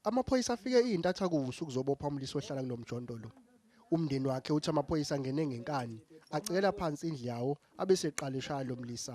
Amaphoyisa afike izintatha kuvusa ukuzobopha umlisi ohlala kunomjondolo. Umndeni wakhe uthi amaphoyisa angene ngenkani, acekela phansi indlu yawo abeseqala eshaya lo mlisa.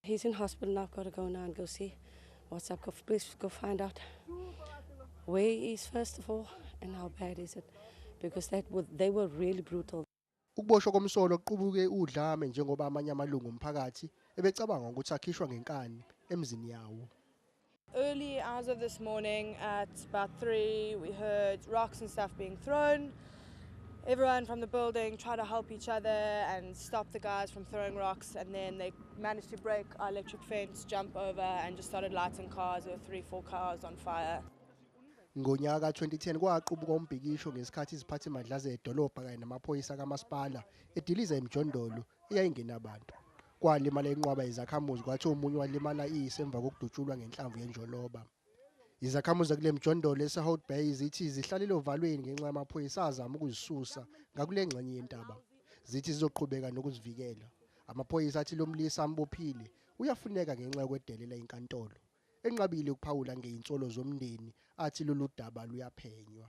He's in hospital now. I've got to go now and go see what's up. Please go find out where he is first of all and how bad is it because that would, they were really brutal. Ukuboshwa komsolo kuqubuke udlame njengoba amanye amalungu omphakathi ebecabanga ukuthi akhishwa ngenkani emzini yawo. Early hours of this morning at about 3 we heard rocks and stuff being thrown. Everyone from the building tried to help each other and stop the guys from throwing rocks and then they managed to break our electric fence, jump over and just started lighting cars or three, four cars on fire. Ngonyaka ka-2010 kwaqubuka umbhikisho ngesikhathi iziphathimandla zedolobha kanye namaphoyisa kamasipala ediliza emjondolo eyayingenabantu. Kwalimala inqwaba yezakhamuzi kwathi omunye walimala iyise emva kokudutshulwa ngenhlamvu yenjoloba. Izakhamuzi zakule mjondolo eseHout Bay zithi zihlalele ovalweni ngenxa yamaphoyisa azama ukuzisusa ngakule ngxenye yentaba. Zithi zizoqhubeka nokuzivikela. Amaphoyisa athi lo mlisa ambophile uyafuneka ngenxa yokwedelela inkantolo. Enqabile ukuphawula ngeinsolo zomndeni athi lolu daba luyaphenywa.